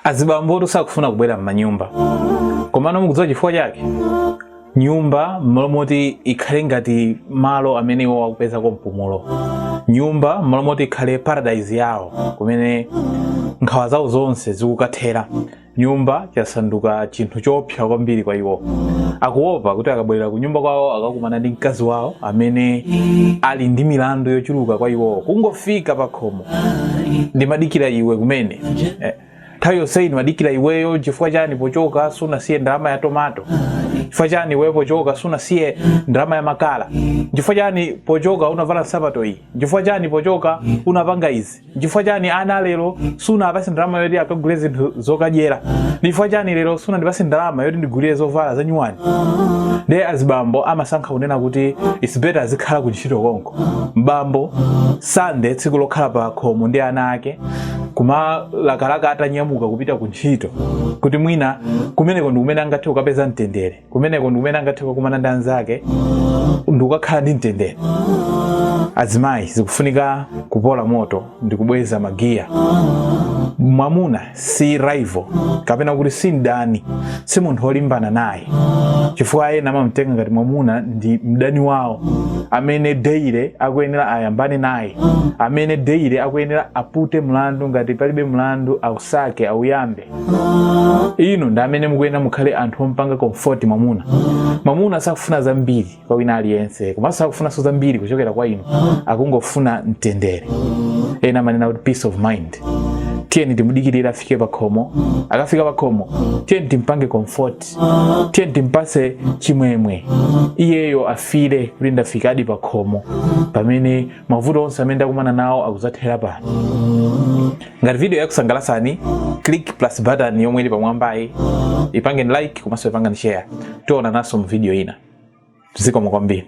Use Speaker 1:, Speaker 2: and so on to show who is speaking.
Speaker 1: azibambotu sakufuna kubwera m'manyumba komano mukudziwa chifukwa chake nyumba mmalo moti ikhale ngati malo amene iwo akupezako mpumulo nyumba mmalo moti ikhale paradise yawo kumene nkhawa zawo zonse zikukathera nyumba yasanduka chinthu choopsa kwambiri kwa iwo akuopa kuti akabwerera ku nyumba kwawo akakumana ndi mkazi wawo amene ali ndi milandu yochuluka kwa iwowo kungofika pakhomo ndimadikira iwe kumene eh, nthawi yonseyi ndimadikira iweyo chifukwa chani pochoka sunasiye ndalama ya tomato chifukwa chani iweyo pochoka sunasiye ndalama ya makala chifukwa chani pochoka unavala nsapato iyi chifukwa chani pochoka unapanga izi chifukwa chani ana lero sunapase ndalama yoti akagule zinthu zokadyera chifukwa chani lero sunandipase ndalama yoti ndigulire zovala za nyuwani ndiye azibambo amasankha kunena kuti it's better azikhala ku ntchito konko m'bambo sande tsiku lokhala pa khomo ndi ana ake kumalakalaka atanyamuka kupita ku ntchito kuti mwina kumeneko ndi kumene angathe kukapeza mtendere kumeneko ndi kumene angathe kukakumana ndi anzake ndikukakhala ndi mtendere azimayi zikufunika kupola moto ndikubweza magiya mwamuna si rival kapena kuti si mdani si munthu olimbana naye chifukwa ena amamtenga ngati mwamuna ndi mdani wawo amene deire akuyenera ayambane naye amene deire akuyenera apute mlandu ngati palibe mlandu ausake auyambe inu ndi amene mukuyenera mukhale anthu ompanga comfort mwamuna mwamuna sakufuna zambiri kwa wina aliyense komanso sakufunanso zambiri kuchokera kwa inu akungofuna mtendere ena amanena kuti peace of mind tiyeni timudikirire afike pakhomo akafika pakhomo tiyeni timpange comfort tiyeni timpase chimwemwe iyeyo afile kuti ndafikadi pakhomo pamene mavuto onse amene ndakumana nawo akuzathera pano ngati video yakusangalatsani click plus button yomwe ili pamwambayi ipangeni like komanso ipangeni share tionanaso mu video ina zikomo kwambiri